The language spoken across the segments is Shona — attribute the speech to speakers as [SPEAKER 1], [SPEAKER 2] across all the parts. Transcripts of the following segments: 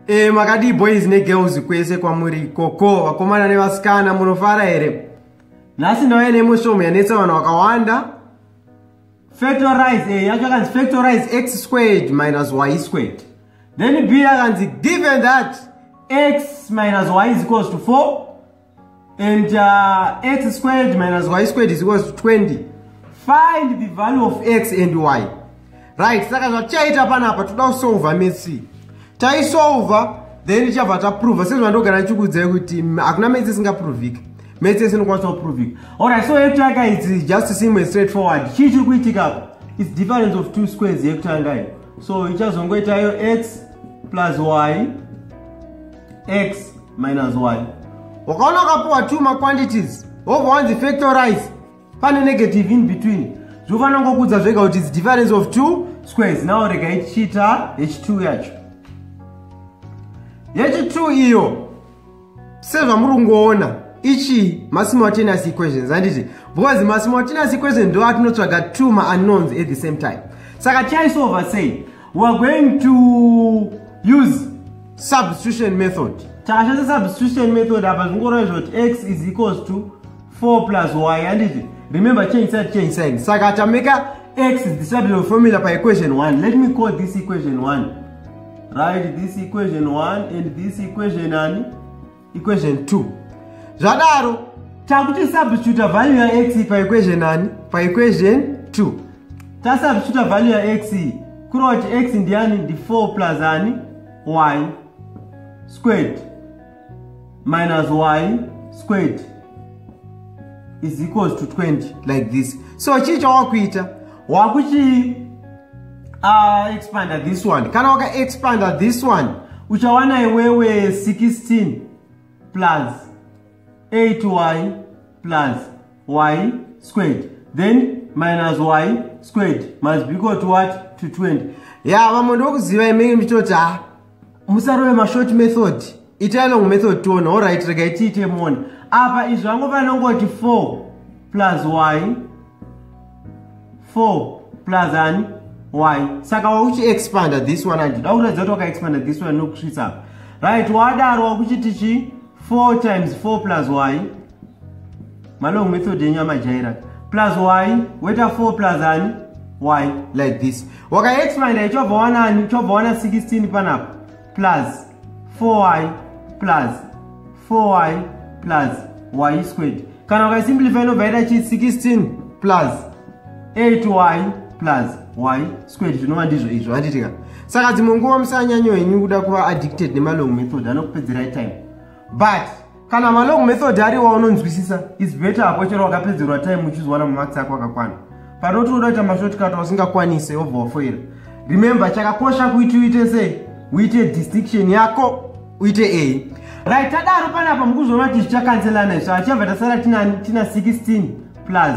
[SPEAKER 1] E, makadii boys negirls kwese kwamuri ikoko vakomana nevasikana munofara here nhasi ndauya nemushomo yanetsa vanhu vakawanda factorize e, yacho yakanzi factorize x squared minus y squared then b yakanzi given that x minus y is equals to 4 and uh, x squared minus y squared is equals to 20 find the value of x and y right saka zvatichaita panapa toda kusolva metsi taisolva then tichabva taprova sezvandogara ndichikuudzai kuti hakuna metsi isingaprovika metsi ese inokwanisa kuprovika allright so yekutanga its just simple straight forward chii chiri kuitika its difference of two squares yekutanga iyo so ichazongoitayo x plus y x minus y wakaona wakapiwa two maquantities wobva wanzi factorize pane negative in between zvinofanira ngokuudza zvega kuti its difference of two squares now rega ichiita h2 yacho h2 iyo sezvamuri kungoona ichi masimultaneous equations handiti because masimultaneous equations ndo atinotsvaga two maunknowns at the same time saka chaisolver sei we are going to use substitution method tashandisa substitution method apa zvingoreva zvoti x is equals to 4 plus y handiti remember change side change side saka tameka x is the substitution formula pa equation 1 let me call this equation 1 right this equation 1 and this equation ani equation 2 zvadaro takuti substituta value ya x pa equation ani pa equation 2 tasubstituta value ya x iyi kureva kuti x ndiani ndi 4 plus ani y squared minus y squared is equals to 20 like this so chii chawakuita wakuchii Ah, expander this one kana waka expander this one uchawana iwewe 16 plus 8y plus y squared then minus y squared must be equal to what to 20 ya yeah, vamwe ndokuziva imenge mitoti ha ah, musarove mashort method itai long method tiona orit rega itiite mona apa izvi vangu vanongoti 4 plus y 4 plus ani y saka wakuchiexpanda this one andida kuratidza kuti wakaexpanda this one nokusvitsa apa right wadaro wakuchiti chi 4 times 4 plus y Malong method yenyu amajaira. Plus y, weta 4 plus ani? Y like this. Waka expand ya chobva wana ani? Chobva wana 16 panapa. Plus 4y plus 4y plus y squared. Kana waka simplify no vaida chi 16 plus 8y plus y squared zvinova ndizvo izvo handitika. Saka dzimwe nguva musanyanyo henyu kuda kuva addicted nemalong method anokupedzerai time. but kana malong method ari waunonzwisisa is better apo chero wakapedzerwa time uchizwana mumax ako akakwana panoti unoda kuita mashotcut wasingakwanise wobva wafoira remember chakakosha kuiti uite sei uite distinction yako uite a right tadaro panapa mukuzoona kuti zvichakanzelana izvo achibva tasara tina 16 plus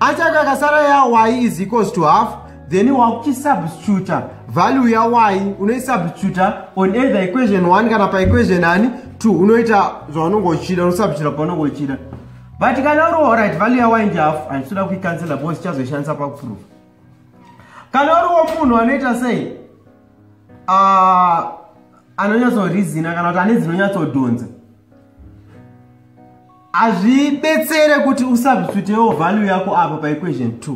[SPEAKER 1] Achake akasara ya y is equals to half then wakuchisubstituta value ya y unoisubstituta on either equation 1 kana paequation ani 2 unoita zvaunonge uchida unosubstituta paunonge uchida but kana uri orit value ya y njafu handisuda kuicancela because tichazoishandisa pakuprova kana uriwo munhu anoita sei ah, anonyatsorizina kana kuti ane dzinoyatsodhonza hazvibetsere kuti usubstitutewo value yako apa paequation 2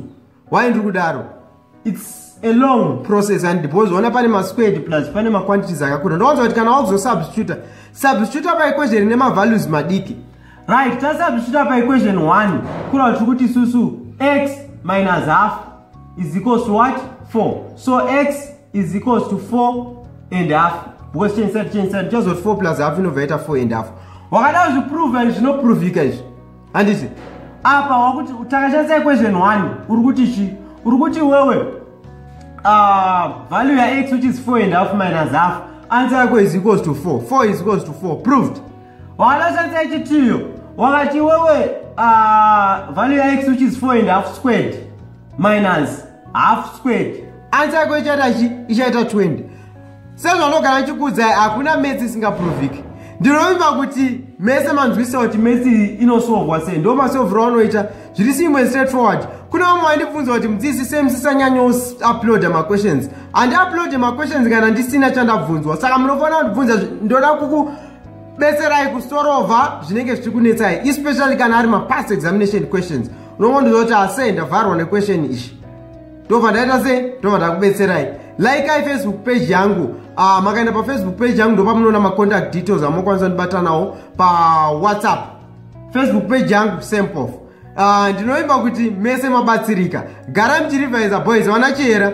[SPEAKER 1] why ndiri kudaro its a long process and because ona pane masquared plus pane maquantities akakura ndowanza kuti kana wakuzosubstituta substituta paequation ine mavalues madiki right tasubstituta paequation 1 kura kuti kuti isusu x minus half is equals to what 4 so x is equals to 4 and half because change side change side just 4 plus half inobva yaita 4 and half wakada zviprova izvi zvinoprovika izvi handiti apa wakuti takashandisa equation 1 uri kuti chi uri kuti wewe uh, value ya x which is 4 and half minus half answer yako is equals to 4 4 is equals to 4 proved Wanoshandisa chitiyo wakati wewe uh, value ya x which is 4 and half squared minus half squared ansa yako ichaita chi ichaita 20 sezvanogara chikuudza hakuna metsi isingaproviki ndinovimba kuti mese manzwisa kuti metsi inosolvwa sei ndo masolviro anoita zviri simwe straight forward kune vamwe vandibvunza kuti mudzisi sei musisanyanya uploada maquestions handiuploade maquestions kana ndisina chandabvunzwa saka munofanira kundibvunza ndoda kuku betserai kusorova zvinenge zvichiri kunetsai especially kana ari mapast examination questions unongondiza kuti ase ndavharwa nequestion ichi ndobva ndaita se ndobva ndakubetserai likei facebook page yangu uh, makaenda pafacebook page yangu ndopamunoona macontact details amokwanisa kundibatanawo pawhatsapp facebook page yangu sempof uh, ah, ndinoimba kuti mese mabatsirika gara mchirivaiza boys vana chihera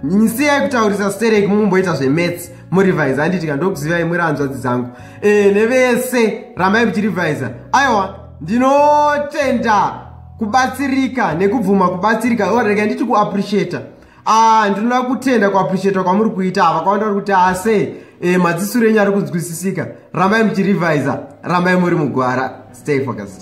[SPEAKER 1] nyisiyai kutaurisa stereki mumboita zvemets murivhaiza handitika ndokuzivai muri hanzvadzi dzangu e, nevese rambai muchirivhaiza aiwa ndinotenda kubatsirika nekubvuma kubatsirika orega nditi kuappreciata ah, ndinoda kutenda kuappreciata kwamuri kuita ava kwavanda vari kuti ase ah, e, madzisuro enyu ari kunzwisisika rambai muchirivhaiza rambai muri mugwara stay focused